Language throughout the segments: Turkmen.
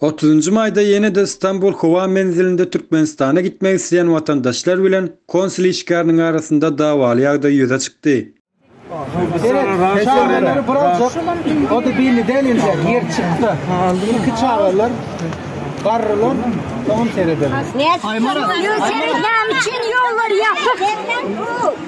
Otuzynjy maýda ýene-de Stambul howa menzilinde Türkmenistana gitmek isleýän watandaşlar bilen konsul işgäriniň arasynda dawaly ýagdaý ýüze çykdy.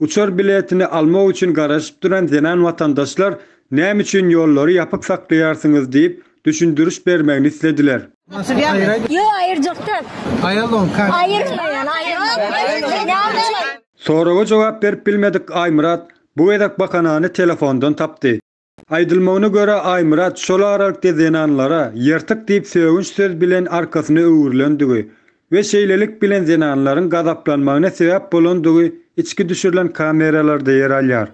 Uçar biletini almak üçin garaşyp duran zenan watandaşlar näme üçin ýollary ýapyk saklaýarsyňyz diýip, düşündiriş bermegini islediler. Soraga jogap berip bilmedik Aýmyrat bu gezek bahanany telefondan tapdy. Aýdylmagyna görä, Aýmyrat şol aralykda zenanlara ýyrtyk diýip sögünç söz bilen arkasyna öwrülendigi we şeýlelik bilen zenanlaryň gazaplanmagyna sebäp bolandygy içki düşürilen kameralarda ýer alýar.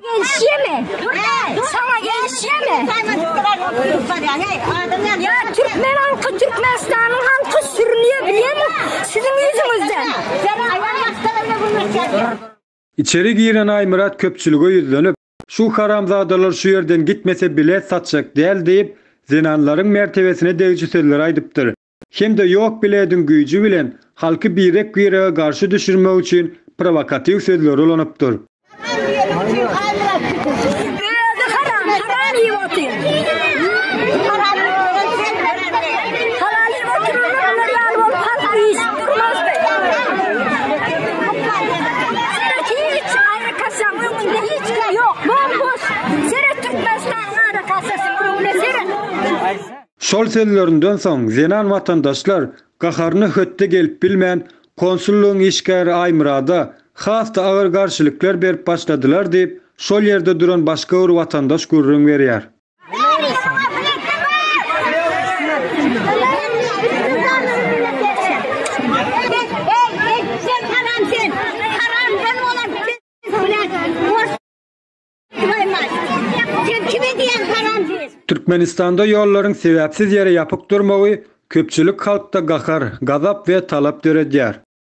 Içeri giren Aýmyrat köpçülige ýüzlenip, Şu haramzadalar şu ýerden gitmese bilet satjak däl diýip, zenanlaryň mertebesine degiji sözler aýdypdyr hem-de ýok bilediň güýji bilen halky birek-birege garşy düşürmek üçin prowokatiw sözleri ulanypdyr. Kasaň öňünde hiç kim ýok, bom-boş. Seret Türkmenistanyň ara kasasynyň öňüne seret. Şol sözlerinden soň zenan watandaşlar gaharyna hötde gelip bilmän, konsullygyň işgäri Aýmyrada has-da agyr garşylyklar berip başladylar diýip, şol ýerde duran başga bir watandaş gürrüň berýär. Türkmenistanda ýollaryň sebäpsiz ýere ýapyk durmagy köpçülik halkda gahar, gazap we talap döredýär.